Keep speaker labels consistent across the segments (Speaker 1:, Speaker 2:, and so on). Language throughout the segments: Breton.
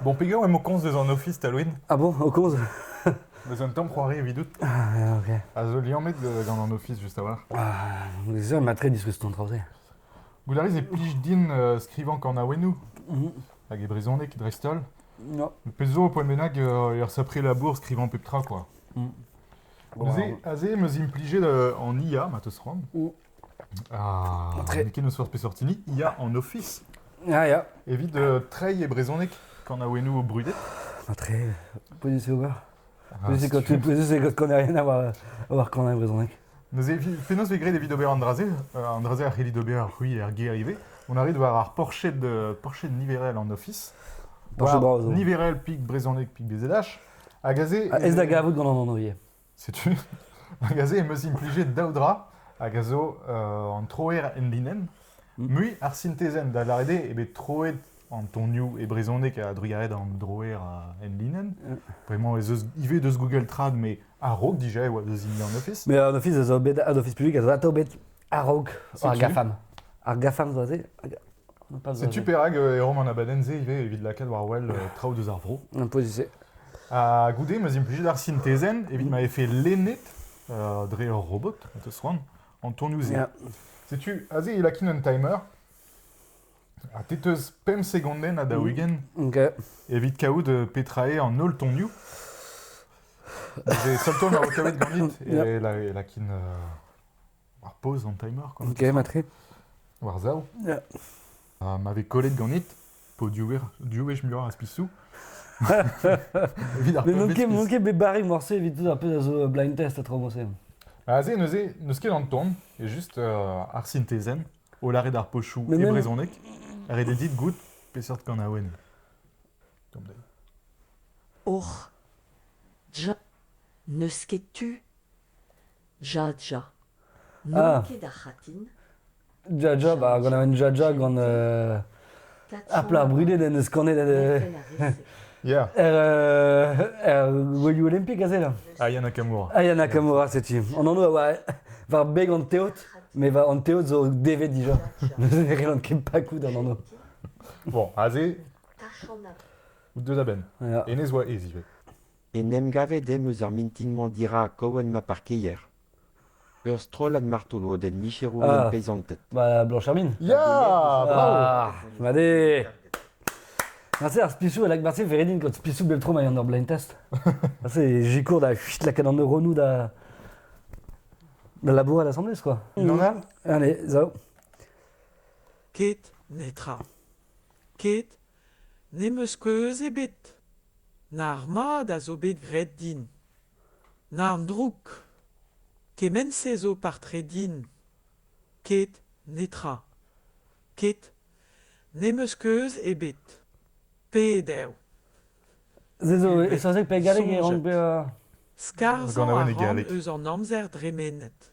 Speaker 1: Bon, peger emañ o komz deus an ofis, Talwin Ah bon, o komz
Speaker 2: Deus un tamm
Speaker 1: c'hoari evidout. Ah, ok. A
Speaker 2: zo liammet euh,
Speaker 1: gant an ofis, just a-walc'h. Ah, ça
Speaker 2: m'a très disrusté ton trajet. Goulariz
Speaker 1: e plij din euh, skrivañ kanaouennoù Mhm. hag e brezhoneg dreist-holl. Ja. Pezh
Speaker 2: zo, poen bennak,
Speaker 1: euh, er sapre labour skrivañ pep tra, quoi. Mm. Bon, Neuze, aze, meus implijet euh, en IA, ma teus c'hoant. Mm. Ah, ken eus
Speaker 2: forzh peseurt hini
Speaker 1: ya en ofis. Ya, ya.
Speaker 2: Evit euh, treiñ e
Speaker 1: brezhoneg kanaouennoù brudet. Ah, treiñ
Speaker 2: Poser c'est ober. Poser quand tu
Speaker 1: poser c'est
Speaker 2: quand qu'on n'a rien à voir avoir quand on a brezhoneg. Neuze, penaos
Speaker 1: vez graet evit ober an dra-se euh, An dra-se a c'hellit ober c'hwi er gêr ivez. On arrive war ar porched, euh, porched niverel en ofis. Porched bras,
Speaker 2: niverel, pik brezhoneg,
Speaker 1: pik BZH. Hag aze... Ah, ez da gavout gant an
Speaker 2: anv ivez. Setu,
Speaker 1: hag aze em eus implijet daou dra, hag a zo euh, an troer enlinenn, Mm. mui ar sintezenn, da lâret eo, eo bet troet an tonioù e brezhoneg a-drugarez an droer a enlinenn. Vraiment ez eus ivez deus Google Trad, mais a-raok dija e oa deus hini an Office. Mais un office a zo bet,
Speaker 2: un office public a zo atao bet A-raok ar GAFAM. Ar GAFAM zo se Setu
Speaker 1: perak euh, e rom an abadenn-se ivez evit lakaat war wel euh, traoù deus ar vro. Un se.
Speaker 2: Ha goude,
Speaker 1: ma implijet ar sintezenn evit ma efe lennet euh, dre ur robot, teus c'hoant, an tonioù-se. Setu, aze il lakin un timer. Ha te teus pemp segondenn a daouigenn
Speaker 2: evit kaout
Speaker 1: petra eo an holl tonioù. Seul ton a kaout ganit et lakin War pause an timer quand Vous gav matre
Speaker 2: War sav
Speaker 1: Yeah.
Speaker 2: Ha ma vez
Speaker 1: kollet ganit, po diwech muioc'h az pisoù. Evit ar Mais pep manquez, piz. manquez bet barré morceau
Speaker 2: évite tout un peu à zo blind test à tromosem. Aze neuze,
Speaker 1: n'eus ket an ton, e just euh, ar sintezen, o lare d'ar pochou Mais e même- brezhoneg, rededit goût peseurt kanaouenn. Tom Day.
Speaker 3: Och, je, n'eus ket tu. Jaja.
Speaker 2: N'on ket ar
Speaker 3: c'hatin. Jaja,
Speaker 2: ba, gant an Jaja gant uh, ar plas brudet en eus kanet uh, Yeah. Er,
Speaker 1: uh, er
Speaker 2: gouelioù olimpik aze là Aya Nakamura. Aya
Speaker 1: Nakamura, c'est
Speaker 2: tu. On en a ouais, war beg an teot, mais va an teot zo devet déjà. Ne relan ket pas coup d'an ano. Bon,
Speaker 1: aze, Tachana.
Speaker 3: deux da ben.
Speaker 1: Ja. Enez oa ez
Speaker 2: ivez.
Speaker 1: En em
Speaker 4: gavet em eus ar mintin-mañ dirak Cohen ma parkeier. Ur strollad martolodenn micherour Ah. peisanted.
Speaker 2: Bah,
Speaker 4: Blanche Hermine.
Speaker 2: Ya,
Speaker 1: bravo. Ah, Vale
Speaker 2: Marse ar spisou, elak marse veredin kot spisou beltro mai an ur blind test. Marse jikour da chut la ken an euronou da... Da labour à l'assemblée, quoi. Non a
Speaker 1: Allez, zao.
Speaker 5: Ket netra. Ket N'em eus keuz ebet. Nac'h mat a zo bet graet din. Nac'h drouk. Kement-se zo par-tre din. Ket, netra. Ket. N'em eus keuz ebet. Pet eo?
Speaker 2: Se zo e saozneg pegalik e rank bezañ... Skarzhañ a
Speaker 5: ran eus
Speaker 1: an amzer
Speaker 5: dremenet.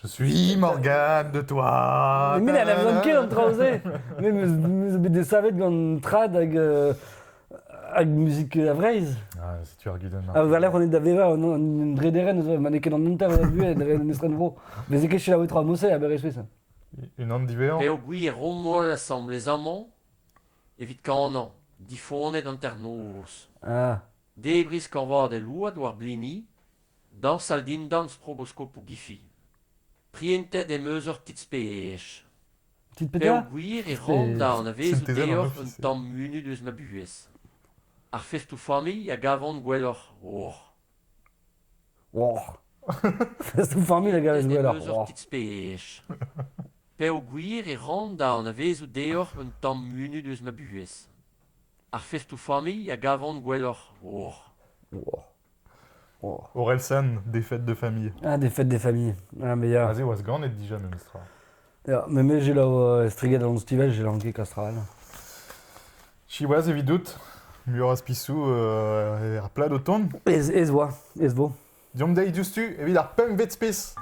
Speaker 1: Je suis Morgane de Thouade. Met elle n'aime ket an
Speaker 2: traoù-se. Mais me zo bet desavet gant trad hag, euh, hag musique à Vreizh. Ah, si tu argues
Speaker 1: demain. Ha war lerc'h on est da vevañ
Speaker 2: an an drederen eus ma n'eo ket an hanter eus a buhez dre estren vro. Bez ket selaou tra mouse a berez ça. Une ant diverrant.
Speaker 1: Peogwir rommol
Speaker 6: assemble les amants evit kanañ difoned hanternoz. Ah.
Speaker 2: Debriñ skañvaat
Speaker 6: el ouad war blini Dañsal dindan stroboskopoù gifi. Prientet em eus ur kits-pezh. Kit peogwir e ran
Speaker 1: da
Speaker 6: anavezout deoc'h
Speaker 1: un
Speaker 6: tamm munut eus ma buhez. Ar festoù-familh a gavan gwelloc'h. Oh.
Speaker 2: Oh. Festoù-familh a gavez gwelloc'h. Ur kits-pezh.
Speaker 6: Peogwir e ran da anavezout deoc'h un tamm munut eus ma buhez. Ar festoù-familh a gavan gwelloc'h. Oh. Oh.
Speaker 2: Orelsan,
Speaker 1: défaite de famille. Ah, défaite des familles.
Speaker 2: Ah, mais ya. Aze oa ganet dija
Speaker 1: memestra. Ya, mais me
Speaker 2: j'ai lao striget an stivel, j'ai lanqué Castral.
Speaker 1: Siwaz evidout, muioc'h az pisou euh, er plad o
Speaker 2: tont.
Speaker 1: Ez, ez oa,
Speaker 2: ez
Speaker 1: vo. Diomp
Speaker 2: dezhi diouzhtu
Speaker 1: evit ar pemvet spes.